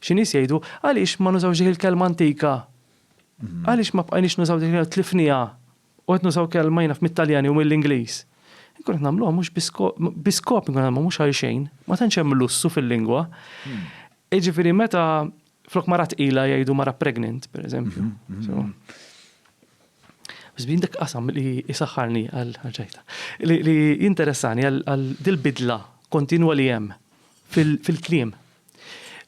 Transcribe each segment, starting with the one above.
Xi nies jgħidu, Għaliex ma nużawx dik il-kelma antika? Għaliex ma bqajniex nużaw dik il-kelma, tlifniha, u qed nużaw kelma jiena naf mit-Taljan jew mill-Ingliż? Inkunu qed nagħmluha mhux bi skop, bi skop inkunu qed nagħmluha mhux għal xejn, ma tantx hemm lussu fil-lingwa. Jiġifieri meta flok mara tqila jgħidu mara pregnant, pereżempju. Biss bin dak qasam li isaħħarni għal ħaġajta. Li interessani għal dil-bidla kontinwa li hemm fil-kliem.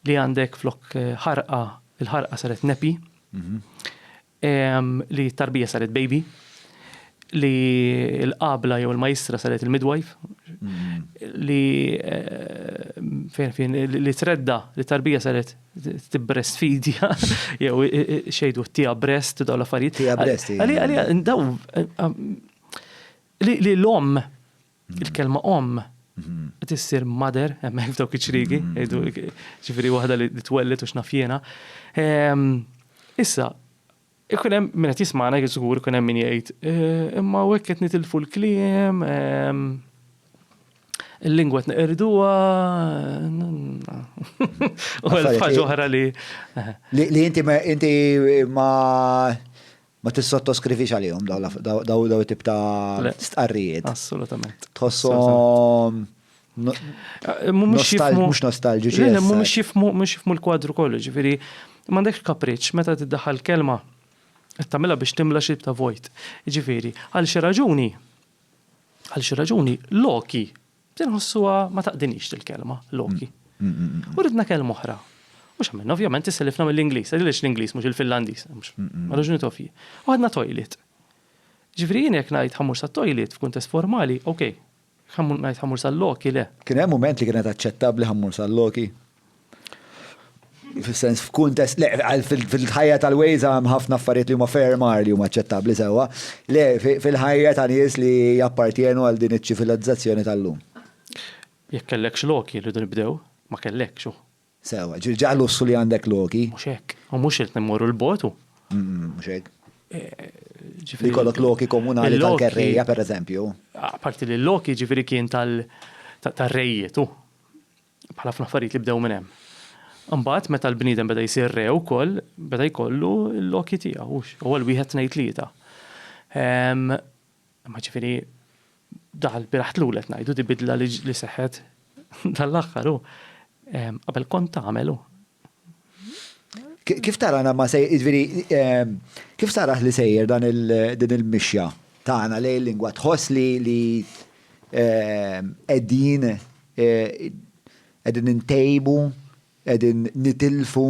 li għandek flok eh, ħarqa, il-ħarqa saret nepi, mhm. li tarbija saret baby, li l-qabla jew il-majstra saret il-midwife, mhm. li eh, fejn fejn li tredda li tarbija saret t-breast fidja jew eh, xejdu tija breast daw l-affarijiet. Tija breast. Għalija, daw li l-om Il-kelma omm qed issir mother hemmhekk f'dawk iċ-ċriegi, ġifieri waħda li twellet u x'naf jiena. Ehm, issa, ikun hemm min qed jismana żgur ikun hemm min jgħid, eh, imma hekk qed nitilfu l-kliem, ehm, il-lingwa tneqirduha. U ħaġa oħra li. Li inti ma Ma tissottoskrivix għalihom daw daw tip ta' stqarrijiet. Assolutament. Tħossom. Mhux nostalġiċi. Mhux jifmu mhux jifmu l-kwadru kollu, ġifieri m'għandekx kapriċċ meta tiddaħħal kelma qed tagħmilha biex timla xi ta' vojt. Ġifieri, għal xi raġuni għal xi raġuni Loki Tinħossuha ma taqdinix dil-kelma, Loki. U ridna kelma oħra. U x'għamilna ovvjament isselifna mill-Ingliż, għaliex l-Ingliż mhux il-Finlandiż, mhux ma raġunijiet ovvji. U ħadna toilet. Ġifieri jien jekk ngħid ħammur sat-toilet f'kuntest formali, okej. Jekk ngħid ħammur sal-Loki, le. Kien hemm mument li kienet aċċettabbli ħammur sal-Loki? fis-sens f'kuntest, le, fil-ħajja tal-Waze hemm ħafna affarijiet li huma ferm għar li huma aċċettabbli sewwa, le, fil-ħajja ta' nies li jappartjenu għal din iċ-ċivilizzazzjoni tal-lum. Jekk kellekx Loki rridu nibdew, ma kellekx hu. Sewwa, ġifieri ġa lussu li għandek Loki. Mhux hekk, u mhux qed immorru l-bogħod hu. Mhux hekk. Ġifieri jkollok Loki komunali tal-kerrejja pereżempju. Apparti li Loki ġifieri kien tar-rejiet hu. Bħal ħafna affarijiet li bdew minn hemm. Imbagħad meta l-bniedem beda jsir re wkoll, beda jkollu l-loki tiegħu, hux? Ewwel wieħed tnejn tlieta. Imma ġifieri daħal biraħ tlul qed ngħidu di bidla li seħħet dan l-aħħar hu. Qabel kont tagħmel hu. Kif tarana ma se, ġviri, ehm, kif saraħ li sejjer dan din il-mixja tagħna lej il-lingwa tħoss li li ehm, qegħdin eh, qegħdin intejbu, qegħdin nitilfu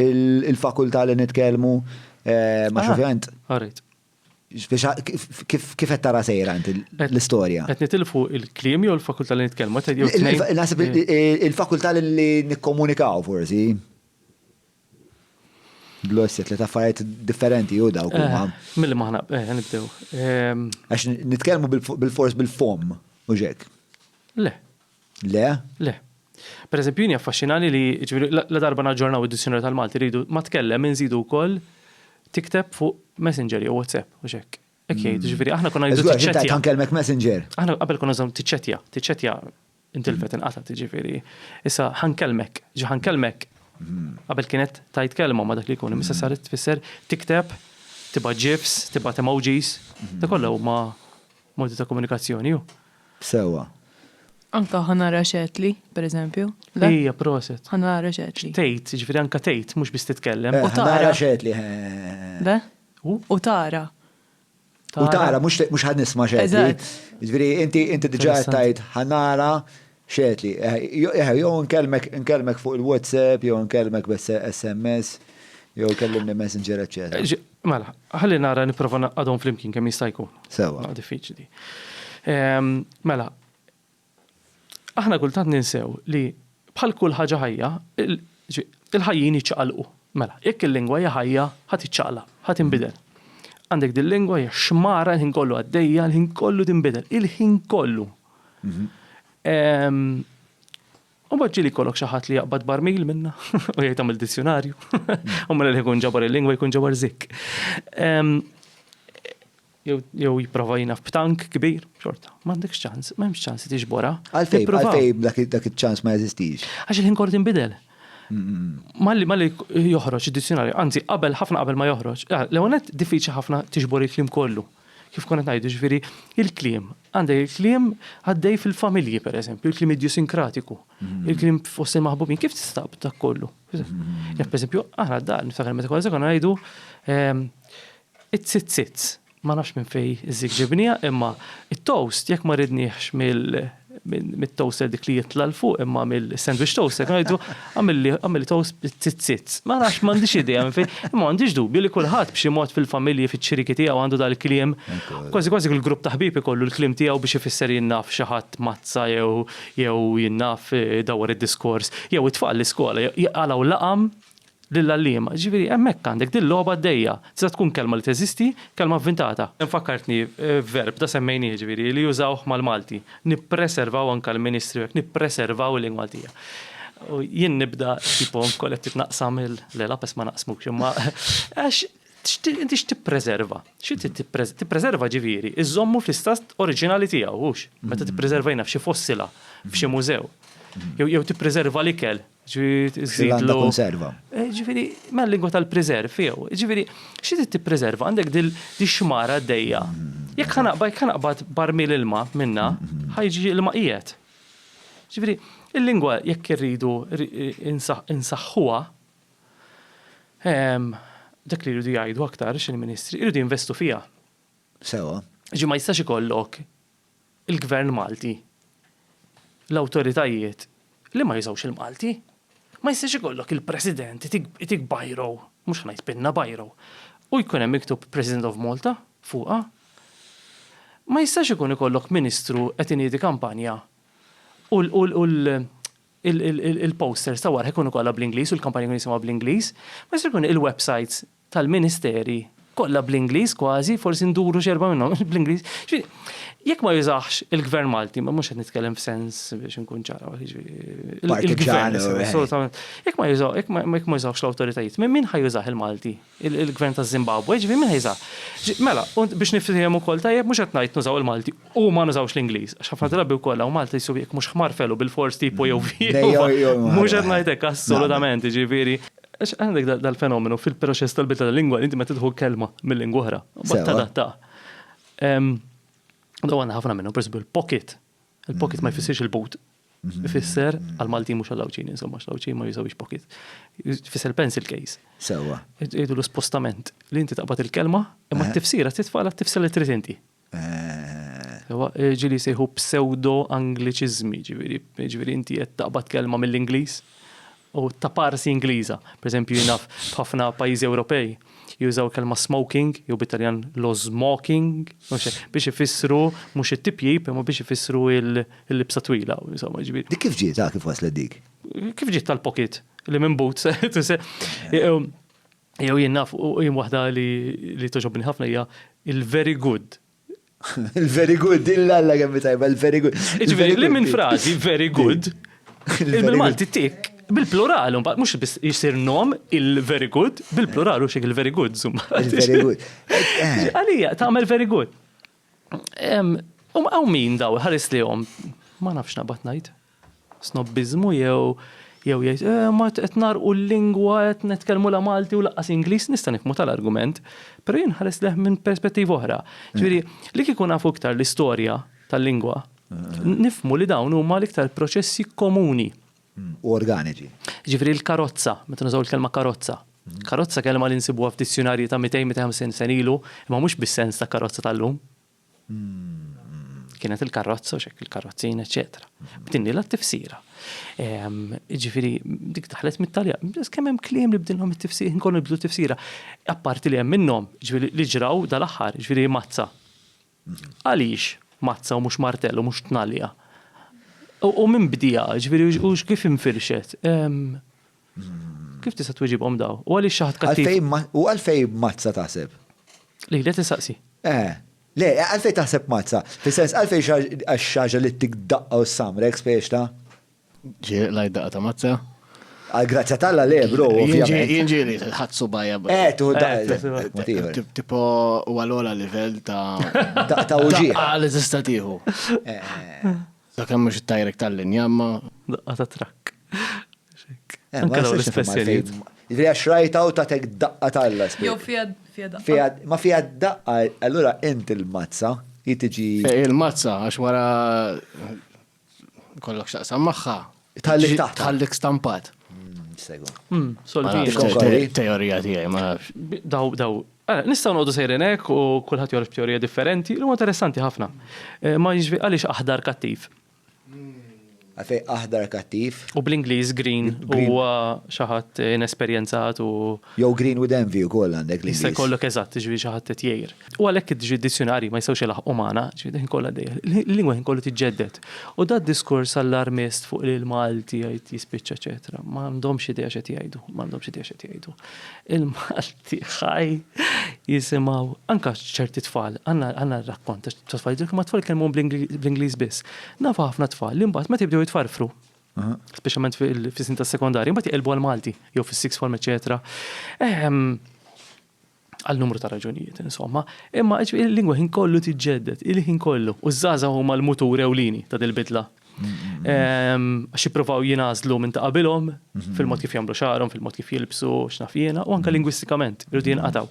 il-fakultà li nitkellmu eh, ma xovjant. Għarrit. Kif qed tara sejra inti l-istorja? Qed nitilfu il-kliem jew il-fakultà li nitkellmu? Naħseb il-fakultà li nikkomunikaw forsi. Blosset li taffariet differenti u dawk eh, huma. Milli maħna eh, nibdew. Ehm, Għax nitkellmu bil-fors bil-fom u ġek. Le, Le? Le. Per eżempju, jien jaffaxxinani li ġifieri la darba naġġornaw id-Dizjonarju tal-Malti rridu ma tkellem inżidu wkoll tikteb fuq Messenger jew WhatsApp u x'hekk. Hekk jgħid, hmm. ġifieri aħna konna ngħidu tiċċettja. Kan kelmek Messenger. Aħna qabel konna żamm tiċċettja, tiċċettja intilfet inqata' tiġifieri. Issa ħankellmek, ġi ħankellmek. Hmm. Qabel kienet tajt kelma ma dak li jkun, imissa hmm. saret tfisser tikteb, tibgħat ġifs, tibgħat emojis, da kollha huma Modi ta' komunikazzjoni hu. Sewwa. Anka ħa nara x'għedt li, pereżempju. Le? Ija, proset. Ħa nara x'għedt li. X'tgħid, jiġifieri anka tgħid, mhux biss titkellem. U tara. Ħa nara x'għedt li, eħe. Le? U? U tara. U tara, mhux ħa nisma' x'għedt li. Eżatt. Jiġifieri inti diġà qed tgħid ħa nara X'għedt li, eħe, jew inkellmek fuq il-WhatsApp, jew inkellmek b'SMS, jew kellimni Messenger, eċċetera. Mela, ħalli nara nipprova naqgħadhom flimkien kemm jista' jkun. Sewwa. Ma diffiċli. Mela, aħna kultant ninsew li bħal kull ħaġa ħajja, il-ħajjin jiċċaqalqu. Mela, jekk il-lingwa hija ħajja, ħa tiċċaqlaq, ħa tinbidel. Għandek dil-lingwa hija xmara l-ħin kollu għaddejja, l-ħin kollu tinbidel, il-ħin kollu. U bħadġi li kollok xaħat li jaqbad barmil minna, u jgħid għamil dizjonarju. U mela li jkun ġabar il-lingwa jkun ġabar zik. Jew jiprofa jina f'tank kbir, xorta. Mandek ċans, ma jemx ċans li bora. Għalfej, għalfej dak il-ċans ma jeżistix. Għax il-ħin kort imbidel. Malli malli joħroġ id-dizjonarju, anzi qabel ħafna qabel ma joħroġ. Ah, l-għonet diffiċi ħafna tiġbor il-klim kollu. kif konna qed ngħidu, ġifieri il-kliem. Għandek il-kliem għaddej fil-familji pereżempju, il-kliem idjusinkratiku, mhm. il-kliem fost il-maħbubin, kif tistab dak kollu? Mhm. Jekk pereżempju aħna dan niftakar meta kważi konna ngħidu ehm, it-sitzitz, ma nafx minn fej iżik ġibnija, imma it-toast jekk ma ridniex mill mit-toaster dik li jitla l-fuq imma mill-sandwich toaster, kan jgħidu għamilli toast bit-tizzit. Ma nafx m'għandix idea minn fejn, imma għandix dubju li kulħadd b'xi mod fil-familji fiċ-ċiriki tiegħu għandu dal-kliem. Kważi kważi kull grupp ta' ħbieb ikollu l-kliem tiegħu biex ifisser jien naf xi ħadd mazza jew jew jien naf dawwar id-diskors. Jew it-tfal l-iskola jqalgħu laqam lill-għalliema. Jiġifieri hemmhekk għandek din logħba għaddejja. Tista' tkun kelma li teżisti, kelma vvintata. Fakkartni verb, da semmejnih, jiġifieri li jużawh mal-Malti. Nippreservaw anke l-Ministri u hekk, nippreservaw il-lingwa Maltija. U jien nibda tipo nkun qed titnaqqsam il le lapes ma naqsmux imma għax inti x'tippreserva? Xi tippreserva? Tippreserva ġifieri iżommu fl-istat oriġinali tiegħu hux. Meta tippreserva jiena f'xi fossila, f'xi mużew. Jew tippreserva l-ikel, X'għandha konserva? Ġifieri, mela lingwa tal-preserv jew. Ġifieri, xi trid tippreserva? Għandek din ix-xmara għaddejja. Jekk ħa naqbad, jekk ħa naqbad barmil ilma minnha, ħa jiġi ilma qiegħed. Ġifieri, il-lingwa jekk irridu insaħħuha, dak li jridu jgħidu aktar xi l-Ministri, jridu jinvestu fiha. Sewwa. Ġifieri ma jistax ikollok il-Gvern Malti, l-awtoritajiet li ma jużawx il-Malti. Ma jistax ikollok il-President itik biro, mhux ħa ngħid pinna, biro, u jkun hemm miktub President of Malta fuqha. Ma jistax ikun ikollok Ministru qed iniedi kampanja u l-posters ta' wara jkunu kollha bl-Ingliż u l-kampanja jkun jisimha bl-Ingliż. Ma jistax ikun il-websites tal-Ministeri kollha bl-Ingliż kważi, forsi nduru xi erba' minnhom bl-Ingliż. Jekk ma jużax il-Gvern Malti, ma mhux qed nitkellem f'sens biex inkun ċara, il-Gvern assolutament. Jekk ma jużaw, jekk ma jużawx l-awtoritajiet, minn min ħajużah il-Malti? Il-Gvern taż-Żimbabwe, ġifieri min ħajża? Mela, biex nifhem ukoll tajjeb mhux qed ngħid nużaw il-Malti u ma nużawx l-Ingliż, għax ħafna drabi wkoll hawn Malta jsiru jekk mhux ħmar felu bil-fors tipu jew view. Mhux qed ngħid hekk assolutament, ġifieri. Għax għandek dal-fenomenu fil-proċess tal-bidla tal-lingwa li inti meta tidħu kelma mill-lingwa oħra, mbagħad tadatta. Daw għandna ħafna minnhom, pereżempju l-pocket. Il-pocket ma jfissirx il-boot. Mhm. Ifisser għal-Malti mhux għal-Lawċin, insomma, x'Lawċin ma jużawx pocket. Ifisser pencil case. Sewa. Idu l-spostament li inti taqbad il-kelma, imma eh. t-tifsira titfa' għal tifsira li trid inti. Ewa, ġieli jsejħu psewdo-Angliċiżmi, ġifieri, ġifieri inti qed taqbad kelma mill-Ingliż u taparsi Ingliża. Per eżempju, jien naf f'ħafna pajjiżi Ewropej jużaw il-kelma smoking, jew bit-Taljan lo smoking, biex ifissru mhux it-tipjip, imma biex ifissru l-libsa twila, insomma, ġifieri. Dik kif ġiet, ha, kif waslet dik? Kif ġiet tal-pocket, li minn boots, Jew jien naf u jien waħda li li toġobni ħafna hija il-very good. Il-very good, illa alla kemm tajba, il-very good. Ġifieri li minn frażi very good, il-Malti tik bil-plural, mbagħad mhux biss jisir nom il-very good, bil-plural u xek il-very good, zumma. Il-very good. Eh. Għalija, tagħmel very good. Um, għaw min daw, ħares li jom, ma nafx nabat najt. snobbiżmu jew jew jgħid eh imma qed ngħarrqu l-lingwa qed nitkellmu la Malti u lanqas Ingliż, nista' nifhmu tal-argument, però jien nħares lejh minn perspettiva oħra. Ġifieri, li kieku nafu iktar l-istorja tal-lingwa, nifhmu li dawn huma l-iktar proċessi komuni. U organiċi. Ġifieri l-karozza, meta nużaw il-kelma karozza. Karozza kelma li nsibuha f'dizzjunarji ta' 200-250 sen ilu, imma mhux bis-sens ta' karozza tal-lum. Kienet il-karrozza, u xek il-karrozzin, eccetera. B'din li l-tifsira. Ġifiri, dik taħlet mit-talja. Kemm hemm kliem li bdinhom it-tifsira, nkun nibdu tifsira. Apparti li hemm minnhom, ġifiri li ġraw dal-aħħar, ġifiri mazza. Għaliex mazza u mhux martell u mhux tnalja? U minn bdija, ġifiri, u kif infirxet? Kif tista' twieġibhom daw? U għaliex xi ħadd kattiv? Għalfejn ma, u għalfejn mazza taħseb? Li qed insaqsi. Eh, le, għalfejn taħseb mazza? Fis-sens għalfejn xi ħaġ- għax xi ħaġa li ttik daqqa u ssamrek spieċta? Ġieli qlajt daqqa ta' mazza. Għal grazzja t'Alla le, bro, Jien ġie- ovvjament. jien ġieli ħadd subajja. bro. Eh, tuħu daqqa. Eh, tuħu daqqa. Mod ieħor. Tip- Tipo u għal-ola livell ta' Daqqa ta' uġieħ. daqqa li tista' tieħu. Eh, Sakemm mhux it-tajrek tal-linja, imma Daqqa ta' trakk. Eh, ma nistax nifhem għalfejn. Ġifieri għax rajta u tatek daqqa talla. Jew fija daqqa. Ma fija daqqa, allura int il-mazza, jitiġi. Eh, il-mazza, għax wara kollok xaqsam maħħa. Tħallik taħt. Tħallik stampat. Hmm, segu. Hmm, Solvi. Teorija tiegħi ma. Daw, daw, eh, Nistaw nodu sejren hekk u kulħadd jorf teorija differenti, li huwa interessanti ħafna. Ma jiġri għaliex aħdar kattiv. Għalfej aħdar kattiv. U bl-Ingliż green huwa xi ħadd inesperjenzat u. Jew green with envy ukoll għandek l-Ingliż. Jista' jkollok eżatt, jiġifieri xi ħadd qed jgħir. U għalhekk id-dizzjunarji ma jistgħux ilaħħqu magħna, ġifieri d-ħin kollha għaddejja. Il-lingwa ħin kollu tiġġedded. U da d-diskors allarmist fuq li l-Malti jgħid jispiċċa eċetera, ma għandhomx idea x'qed jgħidu, ma għandhomx idea x'qed jgħidu. Il-Malti. tiegħi jisimgħu anke ċerti tfal, għandna rakkont ta' tfal jidhru ma tfal kelmu bl-Ingliż biss. Nafu ħafna tfal li mbagħad meta jibdew jitfarfru, speċjalment fis-sin tas-sekondarja, mbagħad jqelbu għal Malti jew fis-six form eċetera. Ehm, għal numru ta' raġunijiet, insomma, imma il-lingwa ħin kollu tiġġedded, il-ħin kollu, u żaza huma l-mutur ewlini ta' dil-bidla. Għax jippruvaw jinażlu minn ta' qabilhom fil-mod kif jagħmlu xagħarhom, fil-mod kif jilbsu, x'naf jiena, u anke lingwistikament irridu jinqataw.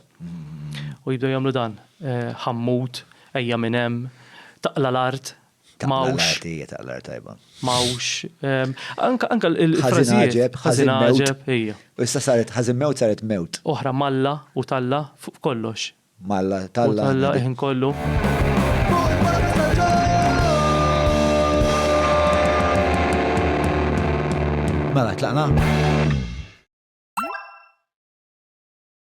U jibdew jagħmlu dan. Eh, ħammut, ejja minn hemm, taqla l-art, mawx. Taqla l-art tajba. Mawx. Anka il-frażijiet. Ħażin għaġeb, ejja. U issa saret ħażin mewt saret mewt. Oħra malla u talla fuq kollox. M'Alla t'Alla Alla il-ħin kollu. Mela, tlaqna?